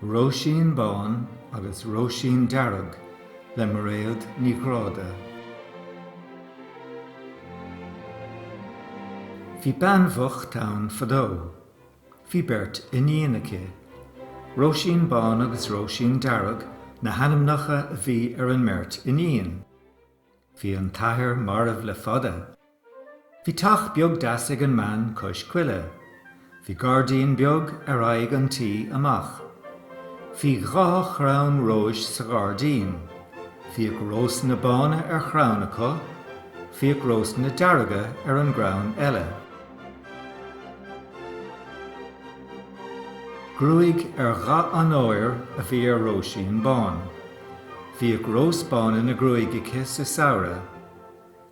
Róisín Bán agus Róisín Dearg le Mairéad Ní Ghráda Bhí bean bhocht ann fadó. Bhí beirt iníon aici. Róisín Bán agus Róisín Dearg na hainmneacha a bhí ar an mbeirt iníon. Bhí an t-athair marbh le fada. Bhí teach beag deas ag an mbean cois coille. Bhí gairdín beag ar aghaidh an tí amach. Bhí dhá chrann róis sa ghairdín. Bhíodh rósanna bána ar chrann acu, bhíodh rósanna dearga ar an gcrann eile. Gruaig ar dhath an óir a bhí ar Róisín Bán. Bhíodh rós bán ina gruaig aici sa samhradh.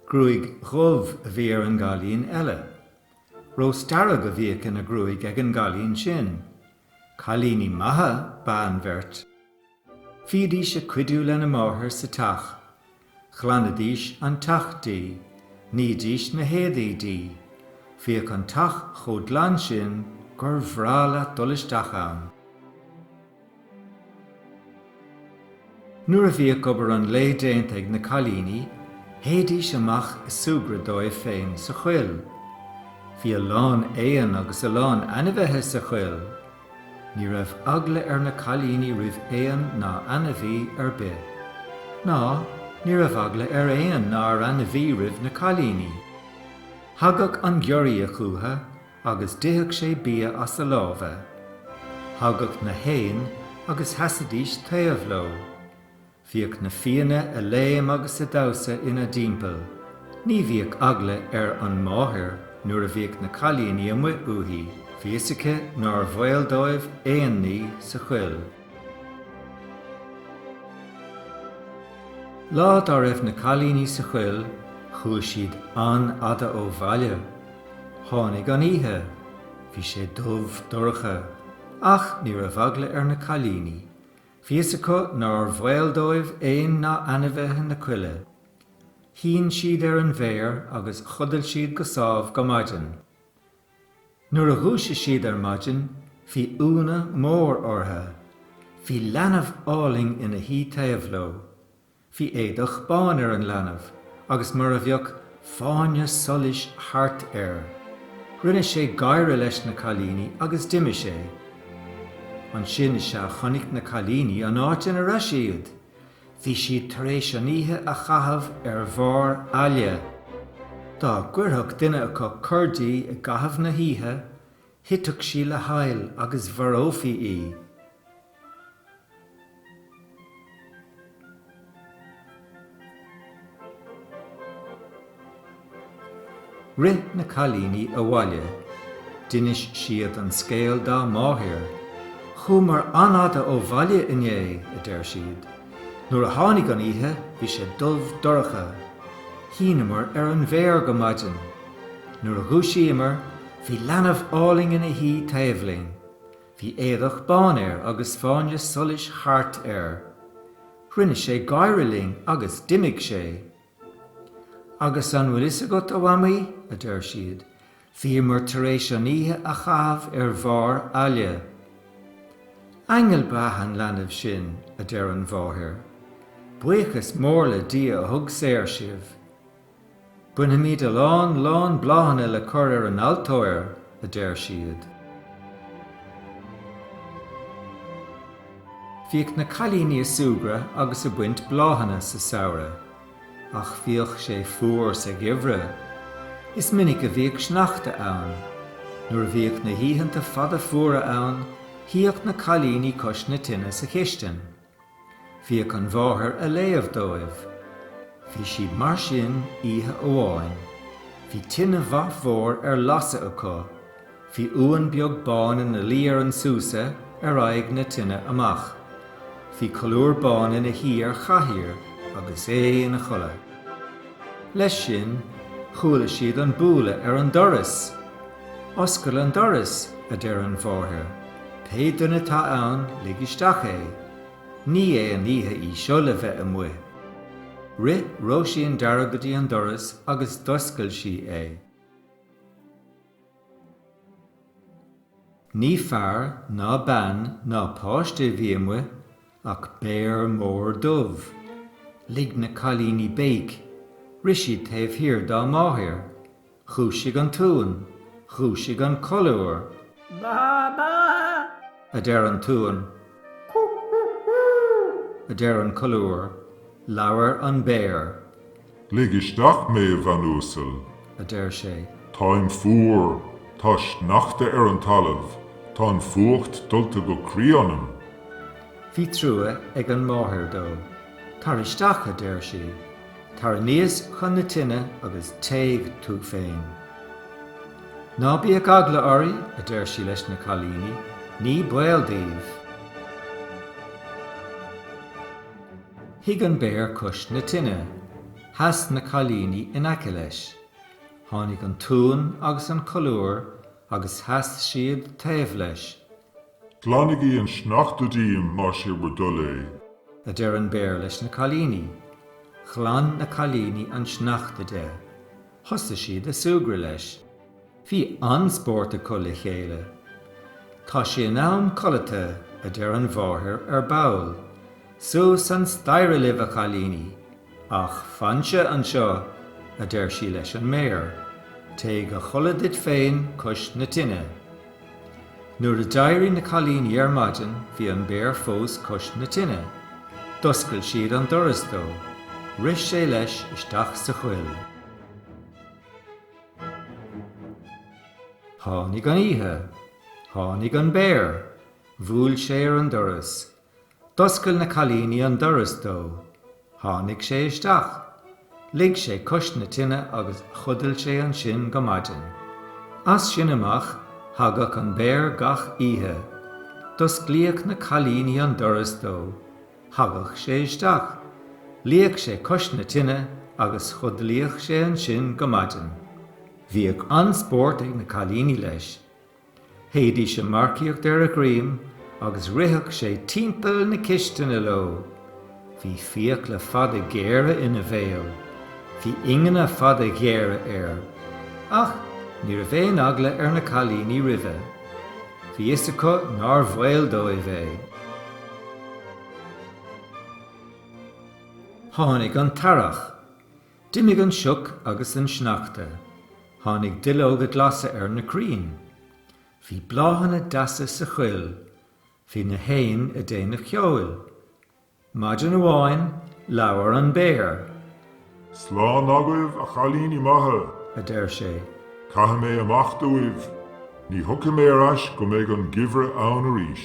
Gruaig dhubh a bhí ar an gcailín eile. Rós dearg a bhíodh ina gruaig ag an gcailín sin. Cailíní maithe ba ea an bheirt. Bhídís ag cuidiú lena máthair sa teach. Ghlanadís an teach di. Nídís na héadaí di. Bhíodh an teach chomh glan sin gur bhreá leat dul isteach ann. Nuair a bhíodh obair an lae déanta ag na cailíní, théidís amach ag súgradh dóibh féin sa choill. Bhí a lán éan agus a lán ainmhithe sa choill. Ní raibh eagla ar na cailíní roimh éan ná ainmhí ar bith. Ná ní raibh eagla ar éan ná ar ainmhí roimh na cailíní. Thagadh an giorria chucu agus d'itheadh sé bia as a lámha. Thagadh na héin agus sheasaidís taobh leo. Bhíodh na fianna ag léim agus ag damhsa ina dtimpeall. Ní bhíodh eagla ar an máthair nuair a bhíodh na cailíní amuigh uaithi, bhí 'fhios aici nár bhaol dóibh aon ní sa choill. Lá dá raibh na cailíní sa choill, chuaigh siad an-fhada ó bhaile. Tháinig an oíche. Bhí sé dubh dorcha. Ach ní raibh eagla ar na cailíní. Bhí fhios acu nár bhaol dóibh éan ná ainmhithe na coille. Shín siad ar an bhféar agus chodail siad go sámh go maidin. Nuair a dhúisigh siad ar maidin bhí ionadh mór ortha. Bhí leanbh álainn ina shuí taobh leo. Bhí éadach bán ar an leanbh agus mar a bheadh fáinne solais thart air. Rinne sé gáire leis na cailíní agus d'imigh sé. Ansin is ea a chonaic na cailíní an áit ina raibh siad. Bhí siad tar éis an oíche a chaitheamh ar bharr aille. Dá gcuirfeadh duine acu cor di i gcaitheamh na hoíche, Thitfeadh sí le haill agus mharófaí í. Rith na cailíní abhaile, d'inis siad an scéal dá máthair. 'Chuamar an-fhada ó bhaile inné, a deir siad. 'Nuair a tháinig an oíche, bhí sé dubh dorcha. Shíneamar ar an bhféar go maidin. Nuair a dhúisíomar, Bhí leanbh álainn ina shuí taobh linn. Bhí éadach bán air agus fáinne solais thart air. Rinne sé gáire linn agus d'imigh sé. Agus an bhfuil a fhios agat, a Mhamaí, a deir siad, bhíomar tar éis an oíche a chaitheamh ar bharr aille. Aingeal ba ea an leanbh sin, a deir an mháthair. Buíochas mór le Dia a thug saor sibh. Bainfimid a lán lán bláthanna le cur ar an altóir, a deir siad. Bhíodh na cailíní ag súgradh agus ag baint bláthanna sa samhradh, ach bhíodh sé fuar sa gheimhreadh. Is minic a bhíodh sneachta ann. Nuair a bhíodh na hoícheanta fada fuara ann, shuíodh na cailíní cois na tine sa chistin. Bhíodh an mháthair ag léamh dóibh. Bhí siad mar sin oíche amháin. Bhí tine mhaith mhór ar lasadh acu. Bhí uan beag bán ina luí ar an súsa ar aghaidh na tine amach. Bhí colúr bán ina shuí ar chathaoir agus é ina chodladh. Leis sin, chuala siad an bualadh ar an doras. Oscail an doras, a deir an mháthair. Pé duine atá ann, lig isteach é. Ní hé an oíche í seo le bheith amuigh. Rith Róisín Dearg go dtí an doras agus d'oscail sí é. Ní fear ná bean ná páiste a bhí amuigh ach béar mór dubh. Lig na cailíní béic. Rith siad taobh thiar dá máthair. Dhúisigh an tUan! Dhúisigh an colúr! Ba-ba! a deir an tUan. Cú-hú-hú! a deir an colúr. Labhair an béar. Lig isteach mé, a bhean uasail! a deir sé. Táim fuar! Tá sneachta ar an talamh! Tá an fuacht dulta go croí ionam! Bhí trua ag an máthair dó. Tar isteach, a deir sí. Tar aníos chun na tine agus téigh tú féin. Ná bíodh eagla oraibh, a deir sí leis na cailíní, ní baol daoibh. Shuigh an béar cois na tine. Sheas na cailíní in aice leis. Tháinig an t-uan agus an colúr agus sheas siad taobh leis. Glanaigí an sneachta díom más é bhur dtoil é. a deir an Béar leis na cailíní. Ghlan na cailíní an sneachta de. Thosaigh siad a súgradh leis. Bhí an-spórt acu le chéile. Tá sé in am codlata, a deir an mháthair ar ball. Suas an staighre libh, a chailíní! 'Ach fansa anseo, a deir sí leis an mbéar. 'Téigh a chodladh duit féin cois na tine. Nuair a d'éirigh na cailíní ar maidin bhí an béar fós cois na tine. D'oscail siad an doras dó. Rith sé leis isteach sa choill. Tháinig an oíche. Tháinig an béar. Bhuail sé ar an doras. D'oscail na cailíní an doras dó. Tháinig sé isteach. Luigh sé cois na tine agus chodail sé ansin go maidin. As sin amach, thagadh an béar gach oíche. D'osclaíodh na cailíní an doras dó. Thagadh sé isteach. Luíodh sé cois na tine agus chodlaíodh sé ansin go maidin. Bhíodh an-spórt ag na cailíní leis. Théidís a marcaíocht ar a dhroim agus ritheadh sé timpeall na cistine leo. Bhí fiacla fada géara ina bhéal. Bhí ingne fada géara air. Ach ní raibh aon eagla ar na cailíní roimhe. Bhí fhios acu nár bhaol dóibh é. Tháinig an t-earrach. D'imigh an sioc agus an sneachta. Tháinig duilleoga glasa ar na crainn. Bhí bláthanna deasa sa choill. Bhí na héin a déanamh ceoil. Maidin amháin, labhair an béar. Slán agaibh, a chailíní maithe! a deir sé. Caithfidh mé imeacht uaibh. Ní thiocfaidh mé ar ais go mbeidh an geimhreadh ann arís.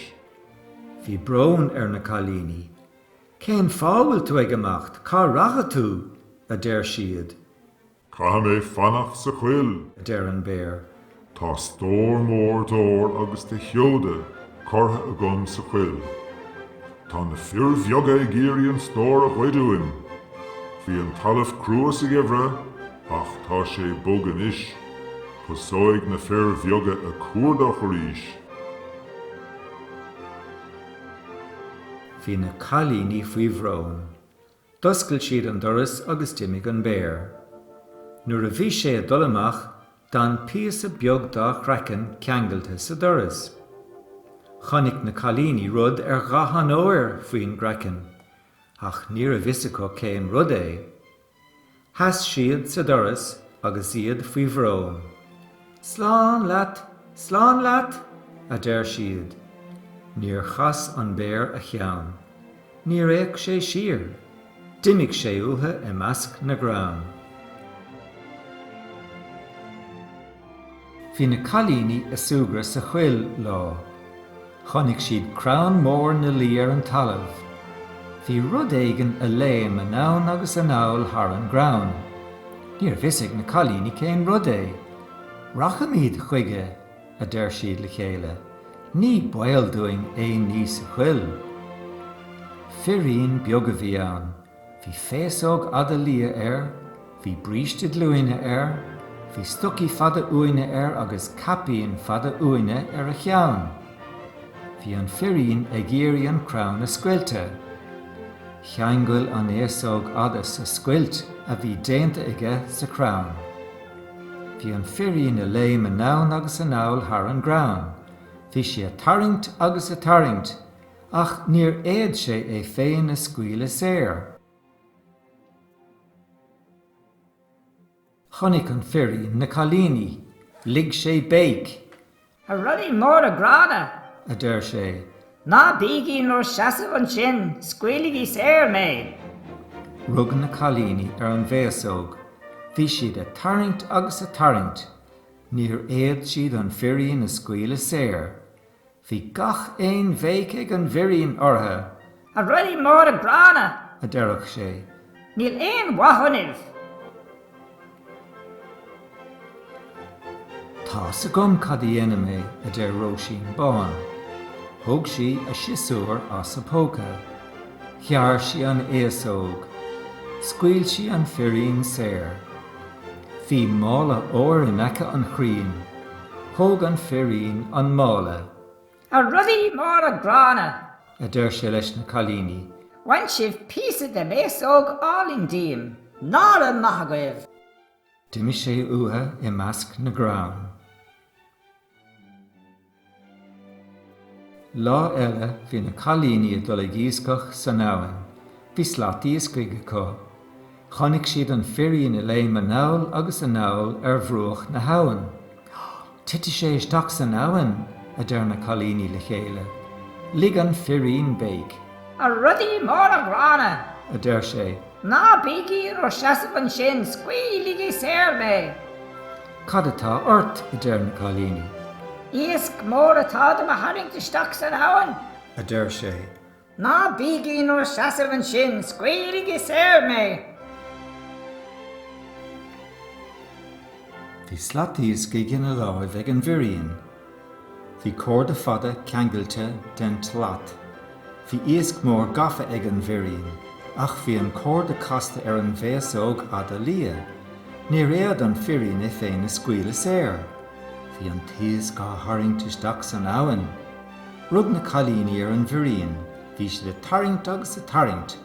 Bhí brón ar na cailíní. 'Cén fáth a bhfuil tú ag imeacht? Cá rachaidh tú? a deir siad. 'Caithfidh mé fanacht sa choill! a deir an béar. 'Tá stór mór d'ór agus de sheoda curtha agam sa choill. Tá na fir bheaga ag iarraidh an stór a ghoid uaim. Bhí an talamh crua sa gheimhreadh ach tá sé bog anois. Tosóidh na fir bheaga ag cuardach arís. Bhí na cailíní faoi bhrón. D'oscail siad an doras agus d'imigh an béar. Nuair a bhí sé ag dul amach, d'fhan píosa beag dá chraiceann ceangailte sa doras. Chonaic na cailíní rud ar dhath an óir faoin gcraiceann, ach níorbh fhios acu cén rud é. Sheas siad sa doras agus iad faoi bhrón. Slán leat! Slán leat! a deir siad. Níor chas an béar a cheann. Níor fhéach sé siar. D'imigh sé uathu i measc na gcrann. Bhí na cailíní a súgradh sa choill lá. Chonaic siad crann mór ina luí ar an talamh. Bhí rud éigin a léim anonn agus anall thar an gcrann. Níorbh fhios ag na cailíní cén rud é. Rachaimíd chuige, a deir siad le chéile, ní baol dúinn aon ní sa choill. Firín beag a bhí ann. Bhí féasóg fhada liath air, bhí bríste glúine air, bhí stocaí fada uaine air agus caipín fada uaine ar a cheann. Bhí an firín ag iarraidh an crann a scoilteadh. Cheangail an fhéasóg fhada sa scoilt a bhí déanta aige sa chrann. Bhí an firín a léim anonn agus anall thar an gcrann. Bhí sé a tarraingt agus a tarraingt. Ach níor fhéad sé é féin a scaoileadh saor. Chonaic an firín na cailíní. Lig sé béic. A rudaí móra gránna! a deir sé. Ná bígí in bhur seasamh ansin, scaoiligí saor mé! Rug na cailíní ar an bhféasóg. Bhí siad a' tarraingt agus a' tarraingt. Níor fhéad siad an firín a scaoileadh saor. Bhí gach aon bhéic ag an bhfirín orthu. A rudaí móra gránna! a deireadh sé, níl aon mhaith ionaibh! Tá's agam cad a dhéanfaidh mé, a deir Róisín Bán. Thóg sí a siosúr as a póca. Ghearr sí an fhéasóg. Scaoil sí an firín saor. Bhí mála óir in aice an chrainn. Thóg an firín an mála. A rudaí móra gránna! a deir sé leis na cailíní. Bhain sibh píosa de m'fhéasóg álainn díom. Ná raibh maith agaibh! D'imigh sé uathu i measc na gcrann. Lá eile bhí na cailíní ag dul ag iascach san abhainn. Bhí slat iascaigh acu. Chonaic siad an firín ag léim anonn agus anall ar bhruach na habhann. Titfidh sé isteach san abhainn! a deir na cailíní le chéile. Lig an firín béic. A rudaí móra gránna! a deir sé. Ná bígí in bhur seasamh ansin, scaoiligí saor mé! Cad atá ort? a deir na cailíní. Iasc mór atá do mo tharraingt isteach san abhainn, a deir sé. Ná bígí in bhur seasamh ansin, scaoiligí saor mé! Bhí slat iascaigh ina láimh ag an bhfirín. Bhí córda fada ceangailte den tslat. Bhí iasc mór gafa ag an bhfirín, ach bhí an córda casta ar an bhféasóg fhada liath. Níor fhéad an firín é féin a scaoileadh saor. Bhí an t-iasc á tharraingt isteach san abhainn. Rug na cailíní ar an bhfirín. Bhí siad ag tarraingt agus ag tarraingt,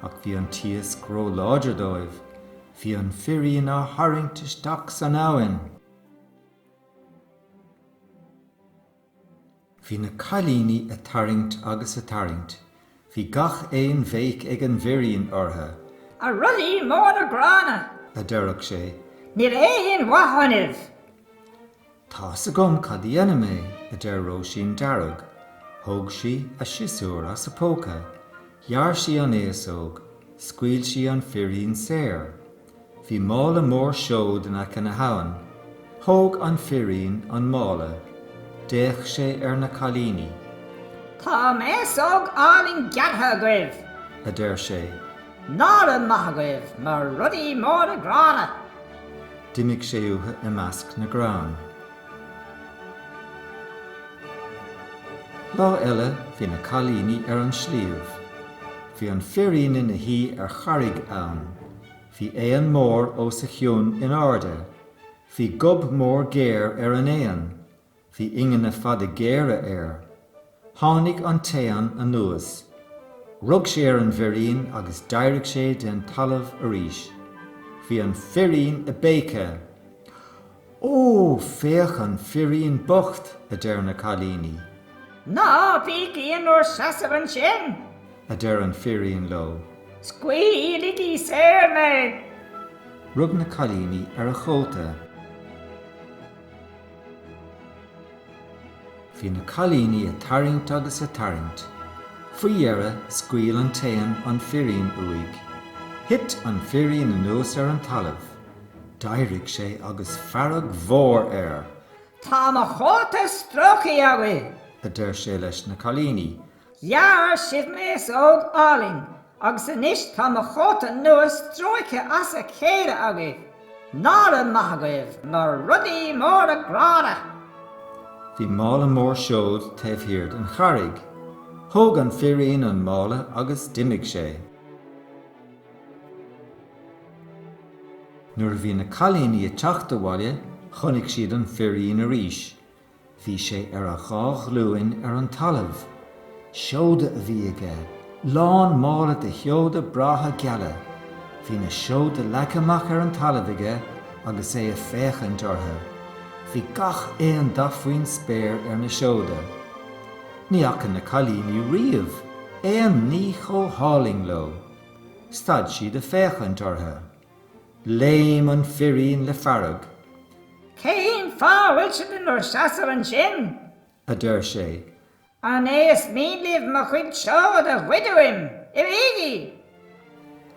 ach bhí an t-iasc ró-láidir dóibh. Bhí an firín á tharraingt isteach san abhainn! Bhí na cailíní a' tarraingt agus a' tarraingt, bhí gach aon bhéic ag an bhfirín orthu. A rudaí móra gránna! a deireadh sé, níl aon mhaith ionaibh! Tá 'fhios agam cad a dhéanfaidh mé, a deir Róisín Dearg. Thóg sí a siosúr as a póca, ghearr sí an fhéasóg, scaoil sí an firín saor. Bhí mála mór seod in aice na habhann. Thóg an firín an mála. D'fhéach sé ar na cailíní. Tá m'fhéasóg álainn gearrtha agaibh! a deir sé. Ná raibh maith agaibh, a rudaí móra gránna! D'imigh sé uathu i measc na gcrann. Lá eile bhí na cailíní ar an sliabh. Bhí an firín ina shuí ar charraig ann. Bhí éan mór os a chionn in airde, bhí gob mór géar ar an éan, bhí ingne fada géara air. Tháinig an t-éan anuas. Rug sé ar an bhfirín agus d'éirigh sé de'n talamh arís. Bhí an firín a' béiceadh. Ó, féach an firín bocht! a deir na cailíní. Ná bígí in bhur seasamh ansin! a deir an firín leo. Scaoiligí saor mé! Rug na cailíní ar a chóta. Bhí na cailíní ag tarraingt agus ag tarraingt. Faoi dheireadh, scaoil an t-éan an firín uaidh. Thit an firín anuas ar an talamh. D'éirigh sé agus fearg mhór air. Tá mo chóta stróicthe agaibh! a deir sé leis na cailíní. Ghearr sibh m'fhéasóg álainn agus anois tá mo chóta nua stróicthe as a chéile agaibh! Nára maith agaibh, mar rudaí móra gránna! Bhí mála mór seod taobh thiar den charraig. Thóg an firín an mála agus d'imigh sé. Nuair a bhí na cailíní ag teacht abhaile chonaic siad an firín arís. Bhí sé ar a dhá ghlúin ar an talamh. Seoda a bhí aige, lán mála de sheoda breátha geala. Bhí na seoda leagtha amach ar an talamh aige agus é ag féachaint orthu. Bhí gach aon dath faoin spéir ar na seoda. Ní fhaca na cailíní riamh aon ní chomh hálainn leo. Stad siad ag féachaint orthu. Léim an firín le fearg. Cén fáth a bhfuil sibh in bhur seasamh ansin? a deir sé. An é is mian libh mo chuid seod a ghoid uaim? Imígí!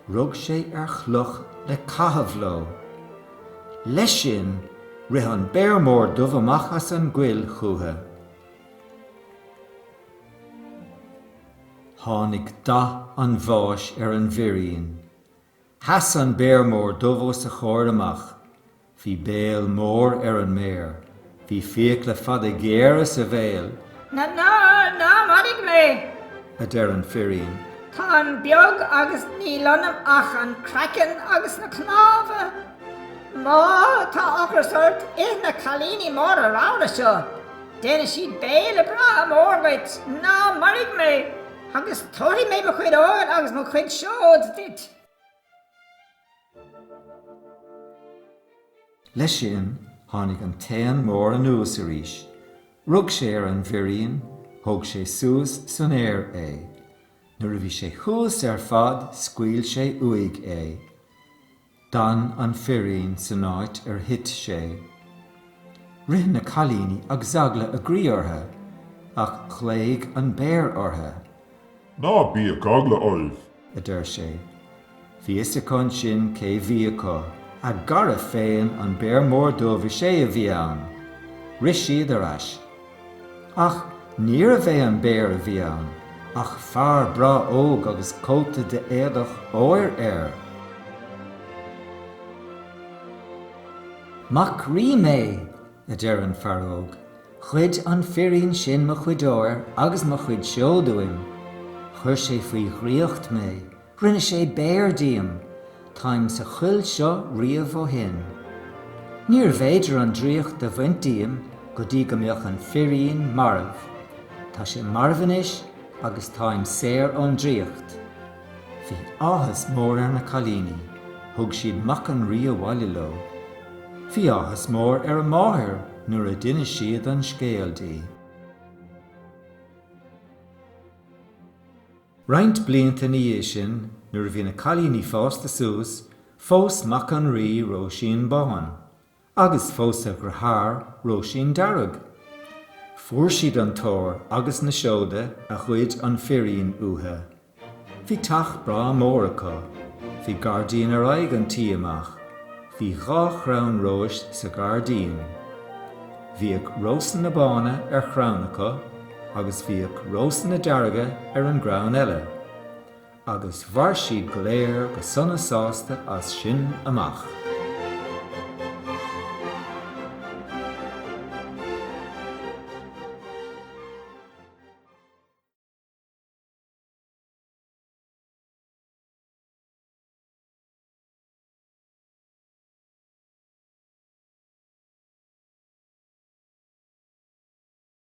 Rug sé ar chloch le caitheamh leo. Leis sin, rith an Béar Mór Dubh amach as an gcoill chucu. Tháinig dath an bháis ar an bhfirín. Sheas an béar mór dubh os a chomhair amach. Bhí béal mór ar an mbéar. Bhí fiacla fada géara sa bhéal. Ná, ná, ná maraigh mé! a deir an firín. Táim beag agus níl ionam ach an craiceann agus na cnámha. Má tá ocras ort, ith na cailíní móra ramhra seo. Déanfaidh siad béile breá mór dhuit, ná maraigh mé, agus tabharfaidh mé mo chuid óir agus mo chuid seod duit. Leis sin, tháinig an t-éan mór anuas arís, rug sé ar an bhfirín, thóg sé suas san aer é. Nuair a bhí sé thuas ar fad, scaoil sé uaidh é. D'fhan an firín san áit ar thit sé. Rith na cailíní agus eagla a gcroí orthu, ach ghlaoigh an béar orthu. Ná bíodh eagla oraibh! a deir sé. Bhí fhios acu ansin cé bhí acu. A gcara féin, an Béar Mór Dubh, is é a bhí ann! Rith siad ar ais. Ach níorbh é an béar a bhí ann, ach fear breá óg agus cóta de éadach óir air. Mac rí mé! a deir an fear óg. Ghoid an firín sin mo chuid óir agus mo chuid seod uaim. Chuir sé faoi dhraíocht mé. Rinne sé béar díom. Táim sa choill seo riamh ó shin. Níorbh fhéidir an draíocht a bhaint díom go dtí go mbeadh an firín marbh. Tá sé marbh anois agus táim saor ón draíocht. Bhí áthas mór ar na cailíní. Thug siad mac an rí abhaile leo. Bhí áthas mór ar a máthair nuair a d'inis siad an scéal di. Roinnt blianta ina dhiaidh sin, nuair a bhí na cailíní fásta suas, phós mac an Rí Róisín Bán, agus phós a dheartháir Róisín Dearg. Fuair siad an t-ór agus na seoda a ghoid an firín uatha. Bhí teach breá mór acu. Bhí gairdín ar aghaidh an tí amach. Bhí dhá chrann róis sa ghairdín. Bhíodh rósanna bána ar chrann acu. agus bhíodh rósanna dearga ar an gcrann eile, agus mhair siad go léir go sona sásta as sin amach.